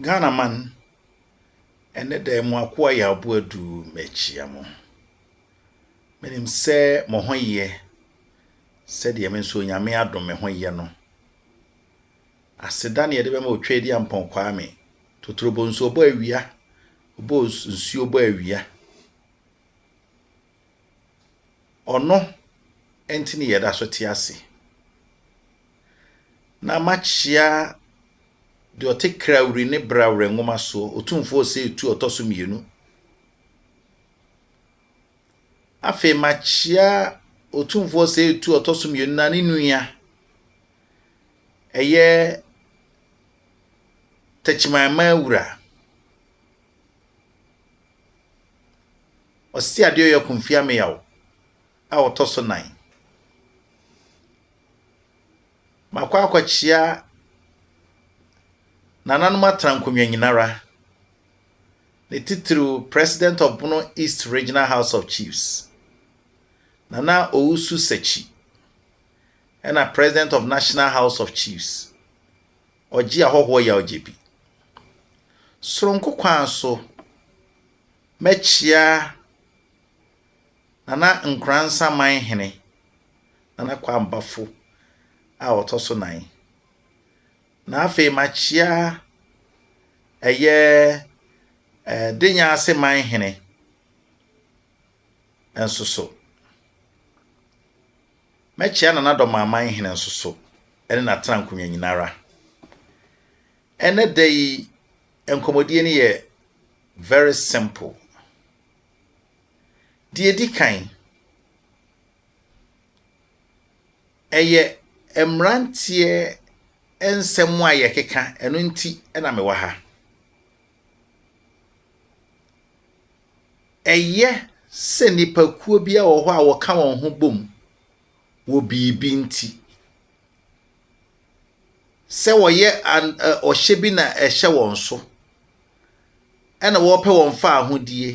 Ghana man, ɛnnɛ da yi mo akoa Yaabo Adu mekyea mo. Menim sɛ mo ho yɛ sɛdeɛ me nso Onyame adom me ho yɛ no. Aseda na yɛde bɛma Otwaadi Ampɔn Kwame, Totorobɔ nsuo bɔ awia, ɔbɔ nsuo bɔ awia. Ɔno nti ne yɛda so te ase. Na makyea deɛ ɔte kra wiri ne bra werɛ nwoma soɔ, otumfoɔ ɔsɛ etu ɔtɔ so mmienu. Afei makyea otumfoɔ ɔsɛ etu ɔtɔ so mmienu na ne nua ɛyɛ tɛkyimanman wura. Ɔse adeɛ ɔyɛ Komfi Ameyaw a ɔtɔ so nan. Makɔ akɔkyea nananom atena nkonnwa nyinara, ne titiriw President of Bono East Regional House of Chiefs, Nana Owusu Sakyi, ɛna President of National House of Chiefs, Ɔgye ahɔhoɔ yawgye bi. Soronko kwan so, mɛkyea Nana Nkoransa man hene, Nana Kwame Bafo a ɔtɔ so nan, na afei makyea ɛyɛ eh, Denyaase man hene nso so. Mɛkyea Nana Dɔmaaman hene nso so ne n'atenankonnwa nyinara. Ɛnnɛ da yi nkɔmmɔdie no yɛ very simple. Deɛ ɛdi kan, ɛyɛ mmeranteɛ nsɛm a yɛkeka, ɛno nti na mewɔ ha. Ɛyɛ sɛ nnipakuo bi wɔ hɔ a wɔka wɔn ho bom wɔ biribi nti. Sɛ wɔyɛ an ɛ ɔhyɛ bi na ɛhyɛ wɔn so, ɛna wɔpɛ wɔn fawohodie,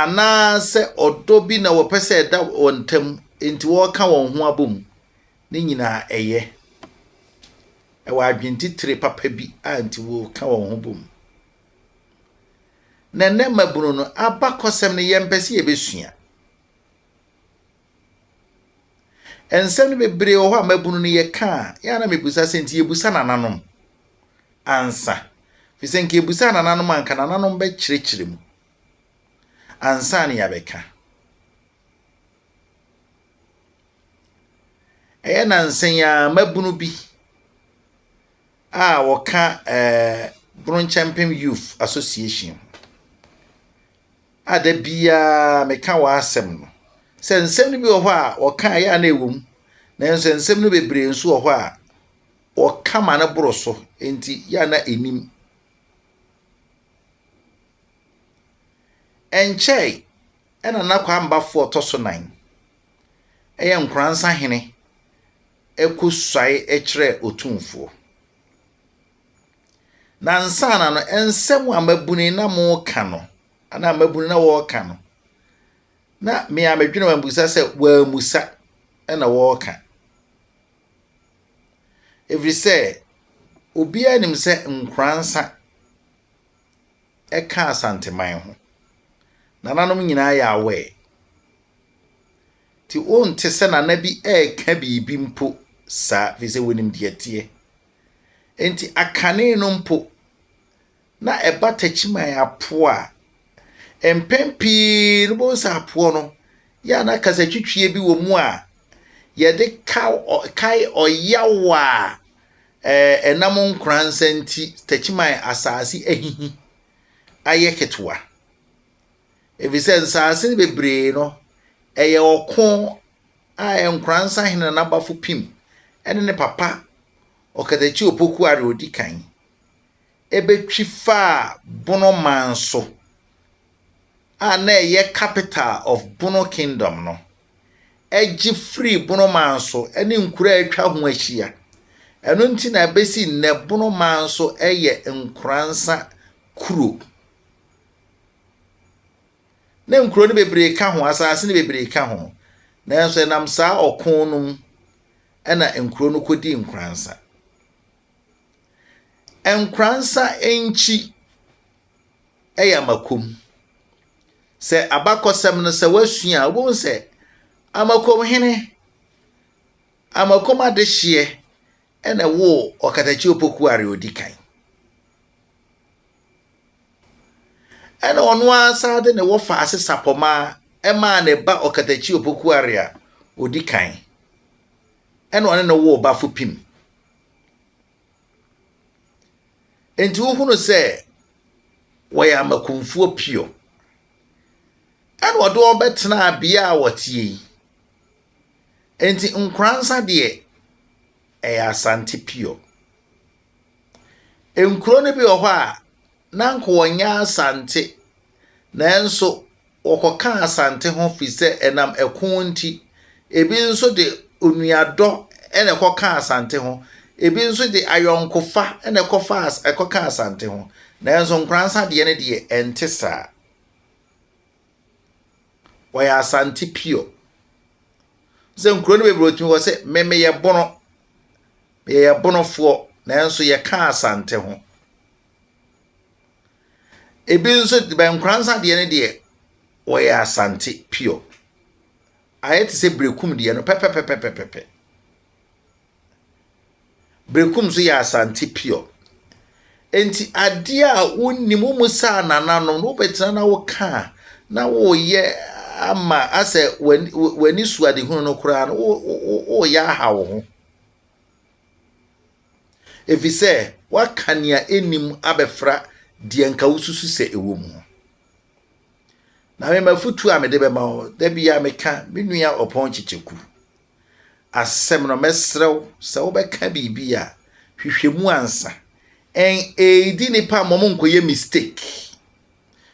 anaasɛ ɔdɔ bi na wɔpɛ sɛ ɛda wɔn ntam nti wɔka wɔn ho abom Ne nyinaa ɛyɛ. Ɛwɔ adwentitire papa bi a nti wɔka wɔn ho bom. Na ɛnɛ mmabunu no abakɔsɛm no yɛmpɛ sɛ yɛbɛsua. Nsɛm no bebree wɔ hɔ a mmabunu no yɛka a yɛa na mebusa sɛ nti yɛbusa nananom ansa. Fi sɛ nka yɛbusa nananom anka nananom bɛkyerɛkyerɛ mu ansa ne yɛabɛka. Ɛyɛ nnansa yi ara mmabunu bi a wɔka Bronkyɛmpem Youth Association ho a da biara meka wɔn asɛm no sɛ nsɛm no bi wɔ hɔ a wɔka a ɛyɛ a na ɛwɔ mu, nanso nsɛm no bebree nso wɔ hɔ a wɔka ma no boro so nti ɛyɛ a na ɛnnim. Ɛnkyɛe na Nana Kwambafoɔ tɔ so nan. Ɛyɛ nkoransa hene ɛkɔ suae kyerɛ otumfoɔ. Na ansaana no nsɛm a mabuni na moka no anaa mabuni na wɔreka no na me a medwene wɔn abusa sɛ wɔamusa na wɔreka ɛfiri sɛ obiara nim sɛ nkoransa ɛka Asanteman ho. Nananom nyinaa yɛ aware. Nti wonte sɛ nana bi reka biribi mpo saa, ɛfiri sɛ wonim deɛ ɛteɛ. Enti akane no mpo, na ɛba takyiman apoɔ a, mpɛn pii no bɛhu sɛ apoɔ no, yɛ a na kasatwitwie bi wɔ mu a yɛde kae ɔyaw a Ɛnam nkoransa nti Techiman asase ahihi ayɛ ketewa, efisɛ nsase no bebree no, ɛyɛ ɔko a nkoransa hene na n'abafo pim ne ne papa Ɔkatachi Opoku a nea odi kan betwi faa Bonoman so. a na ɛyɛ capital of Bono Kingdom no, gye firii Bono Manso ne nkuro a atwa ho ahyia. Ɛno nti na ɛbɛsi nnɛ Bono Manso yɛ Nkoransa kuro. Na nkuro no bebree ka ho, asase no bebree ka ho, nanso ɛnam saa ɔko no mu na nkuro no kɔdii Nkoransa. Nkoransa nkyi yɛ amakom. Sɛ abakɔsɛm no sɛ woasua a, wobɛhu sɛ Amakomhene, Amakom adehyeɛ na ɛwoo Ɔkatakyi Opokuare ɔdi kan. Ɛna ɔno ara saa de ne wɔfa ase sapɔma ɛmaa ne ba Ɔkatakyi Opokuare a ɔdi kan ɛna ɔne ne woo Bafo Pim. Enti wohunu sɛ wɔyɛ amakumfoɔ pio. Ɛna ɔde wɔn bɛtenaa bea a wɔteɛ yi. Enti Nkoransa deɛ, ɛyɛ Asante pio. Nkuro no bi wɔ hɔ a, na anka wɔnyɛ Asante Nanso wɔkɔkaa Asante ho firi sɛ ɛnam ɛko nti. Ebi nso de onuadɔ na ɛkɔkaa Asante ho. Ebi nso de ayɔnkofa na ɛkɔfaa ɛkɔkaa Asante ho. Nanso Nkoransa deɛ no deɛ ɛnte saa. Wɔyɛ Asante pure. Sɛ nkuro no bebree otumi wɔ sɛ me meyɛ bono. Yɛyɛ bonofoɔ nanso yɛka Asante ho. Ebi nso bɛ nkoransa deɛ no deɛ, wɔyɛ Asante pure. Ayɛ te sɛ Berekum deɛ no pɛpɛpɛpɛpɛpɛ. Berekum nso yɛ Asante pure. Enti adeɛ a wonnim, wommusaa nananom no, wobɛtena na woka a, na woreyɛ ama asɛ w'ani su adehunu no koraa no, woreyɛ aha wo ho. efisɛ woaka nea ennim abɛfra deɛ anka wususu sɛ ɛwɔ mu ho. Na me m'afotu a mede bɛma wo, da biara meka me nua ɔpɔn kyekyeku asɛm no, mɛsrɛ wo sɛ wobɛka biribi a, hwehwɛ mu ansa. NAD nipa mmom nkɔyɛ mistake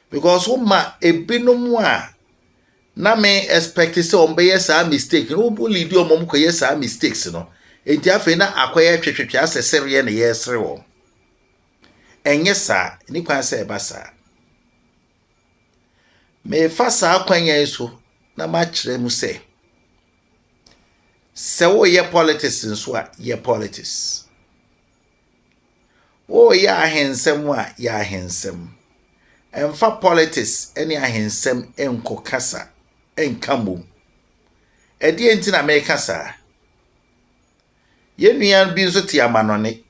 because woma ebinom a na me expect sɛ wɔn bɛyɛ saa mistake no wɔn leadi wɔn wɔn kɔyɛ saa mistakes no nti afei na akɔyɛ twetwetwe asɛ sereɛ na yɛresere wɔn ɛnyɛ saa ne kwan sɛ ɛba saa mefa saa kwan yɛn so na makyerɛ mu sɛ sɛ woyɛ politics nso a yɛ politics Wo yɛ ahensɛm a yɛ ahensɛm. Ɛnfa politics ne ahensɛm nkɔ kasa nka mmom. Ɛdeɛ nti na meka saa? Yɛn nua bi nso te amanɔne.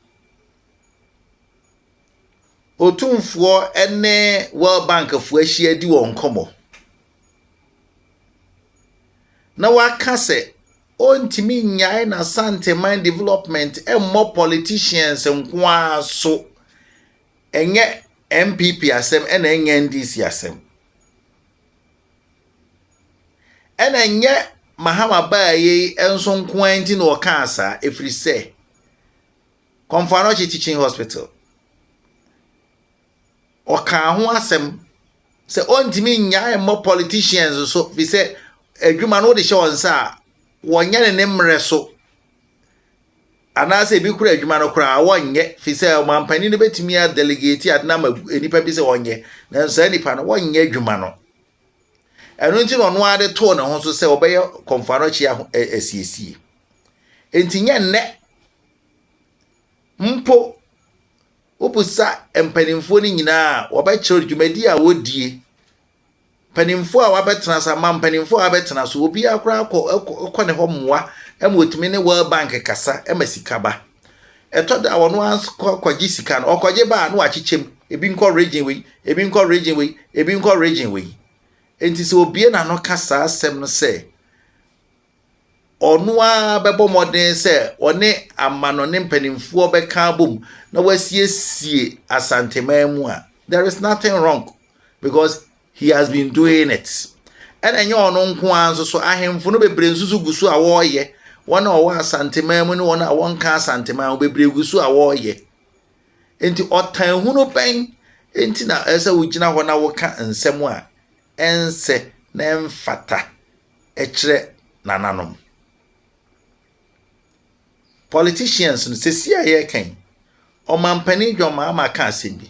Otumfoɔ ne World Bank foɔ ahyia di wɔn nkɔmmɔ. na waka sɛ ɔntumi nnyae n'Asanteman development mmɔ politicians nko ara so, ɛnyɛ NPP asɛm ɛna ɛnyɛ NDC asɛm. Ɛna ɛnyɛ Mahama baa yi nso nko ara nti na ɔkaa saa, ɛfiri sɛ Kɔmfo Anɔkye Teaching Hospital, Ɔkaa ho asɛm sɛ ɔntumi nnyae mmɔ politicians so fi sɛ adwuma no wode hyɛ wɔn nsa a, wɔnyɛ ne ne mmerɛ so. Anaasɛ ebi kora adwuma no koraa wɔnyɛ fi sɛ ɔmampanin no bɛtumi a delegate ade no ama nnipa bi sɛ wɔnyɛ, nanso saa nnipa no wɔnyɛ adwuma no. Ɛno nti na ɔno ara de too ne ho so sɛ ɔbɛyɛ kɔmfoano kyi asiesie. Enti nyɛ nnɛ Mpo, wobisa mpanimfoɔ no nyinaa a, wɔbɛkyerɛ dwumadi a wɔdie. Mpanimfoɔ a wɔabɛtena ase, ama mpanimfoɔ a wɔabɛtena so, obiara koraa kɔ, kɔ ne hɔ mmoa ma wɔtumi ne World Bank kasa ma sika ba. Ɛtɔ da a wɔn ara kɔ kɔgye sika no, ɔkɔgye ba a na wakyekyɛ mu, ebi nkɔ region wei, ebi nkɔ region wei, ebi nkɔ region wei. Enti sɛ obie n'ano ka saa asɛm no sɛ, ɔno ara bɛbɔ mmɔden sɛ ɔne amanɔne mpanimfoɔ bɛka abom na wasiesie asanteman mu a there is nothing wrong because he has been doing it ɛna ɛnyɛ ɔno nko ara nso so ahemfo no bebree nso so gu so a wɔreyɛ wɔn a wɔwɔ asanteman mu ne wɔn a wɔnka asanteman ho bebree gu so a wɔreyɛ nti ɔtan hunu bɛn nti na ɛsɛ wogyina hɔ na woka nsɛm a ɛnsɛ na ɛmfata. ɛkyerɛ nananom. Politicians no sɛsi a yɛreka yi, ɔmampanin John Mahama ka asɛm bi.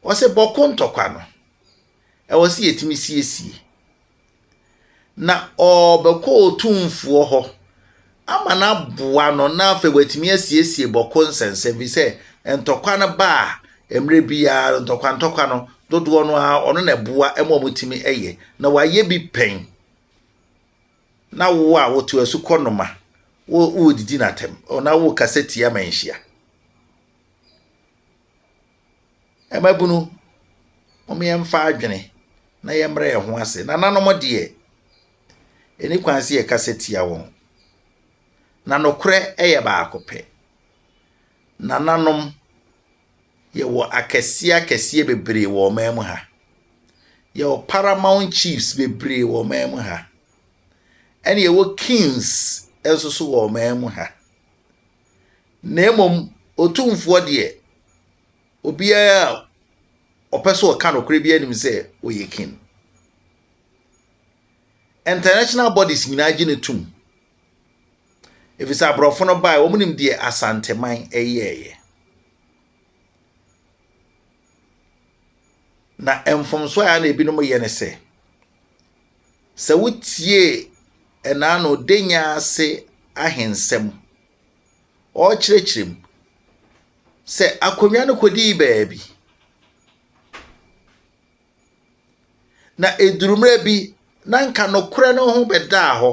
Ɔsɛ bɔko ntɔkwa no, ɛwɔ sɛ yɛtumi siesie. Na ɔbɛkɔ otumfoɔ hɔ ama no aboa no na afei watumi asiesie bɔko nsɛnsɛm fi sɛ ntɔkwa no ba a mmerɛ biara no ntɔkwa ntɔkwa no dodoɔ no ara ɔno na ɛboa ma wɔtumi yɛ na wayɛ bi pɛn na wo a woto asu kɔ noma wodidi no atɛm na wokasa tia ma nhyia Mmabunu, mom yɛmfa adwene na yɛmmrɛ yɛn ho ase. Nananom deɛ, ɛni kwan sɛ yɛkasa tia wɔn. Na nokorɛ yɛ baako pɛ. Nananom, yɛwɔ akɛseɛ akɛseɛ bebree wɔ ɔman mu ha. Yɛwɔ paramount chiefs bebree wɔ ɔman mu ha. Ɛne yɛwɔ kings nso so wɔ ɔman mu ha. na mmom Otumfoɔ deɛ, obiara a ɔpɛ sɛ ɔka nokorɛ biara nim sɛ ɔyɛ kin. International bodies nyinaa gye no tom. Ɛfiri sɛ aborɔfo no bae, wɔn nim deɛ Asanteman yɛeɛ. Na mfomsoɔ a na ebinom yɛ ne sɛ, Sɛ wotiee ɛnaa na ɔde nya ase ahensɛm, ɔrekyerɛkyerɛ mu. Sɛ akonnwa no kɔdii baabi, na ɛduru mmerɛ bi na nka nokorɛ no ho bɛdaa hɔ,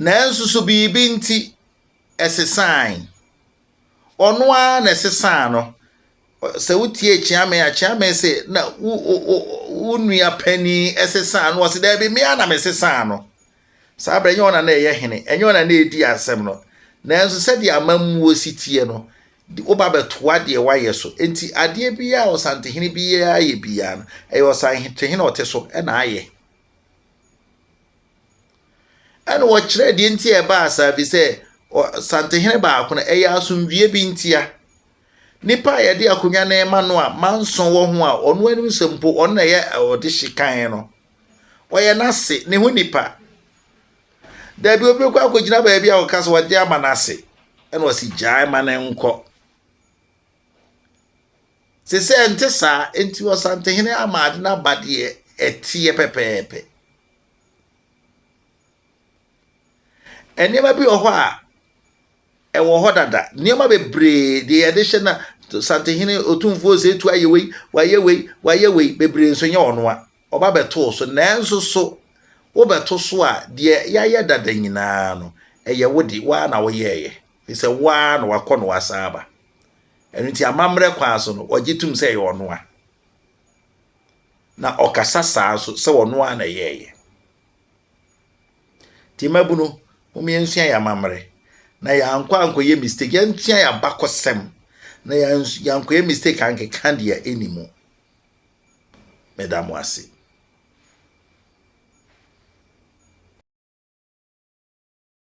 nanso so biribi nti ɛsesae. Ɔno ara na ɛsesaa no. Sɛ wotie Kyeame a, Kyeame se na wo wo wo nua panin sesaa no. Ɔse daabi mmea na mesesaa no. Saa berɛ ɛnyɛ ɔna na ɛyɛ hene, ɛnyɛ ɔna na ɛdi asɛm no. Nanso sɛdeɛ amammuo si tie no, woba bɛtoa deɛ wayɛ so. Enti adeɛ biara a ɔsantehene biara ayɛ biara no, ɛyɛ ɔsantehene ɔte so na ayɛ. Ɛna wɔkyerɛ deɛ nti a ɛbaa saa, ɛfiri sɛ ɔsantehene baako no, ɛyɛ asomdwoeɛ bi ntia. Nnipa a yɛde akonnwa no rema no a manso wɔ ho a ɔno anim sɛ mpo ɔno na ɛyɛ ɔde hye kan no. Ɔyɛ n'ase, ne ho nipa. Dabi obi kɔ akɔgyina baabi a ɔka sɛ ɔde ama n'ase. Ɛna ɔsi gyae ma ne nkɔ. Sɛ sɛ ɛnte saa, enti ɔsantehene ama ade no aba deɛ ɛteɛ pɛpɛɛpɛ. Nneɛma bi wɔ hɔ a ɛwɔ hɔ dada nneɛma bebree deɛ yɛde hyɛ na santehene otumfoɔ osetu ayɛ wei wayɛ wei wayɛ wei bebree nso nyɛ ɔnoa ɔba bɛtoo so nanso so wobɛto so a deɛ yɛayɛ dada nyinaa no ɛyɛ wo de waa na woyɛɛyɛ fi sɛ waa na wakɔ na wasan aba ɛno nti amammerɛ kwan so no wɔgye tom sɛ ɛyɛ ɔnoa na ɔkasa saa nso sɛ ɔnoa na ɛyɛɛyɛ Nti mmabunu, mom yɛnsua yɛn amammerɛ na yɛankɔ ankɔyɛ mistake, yɛnsua yɛn abakɔsɛm na yɛankɔyɛ mistake ankeka deɛ ɛni mu. Meda mo ase.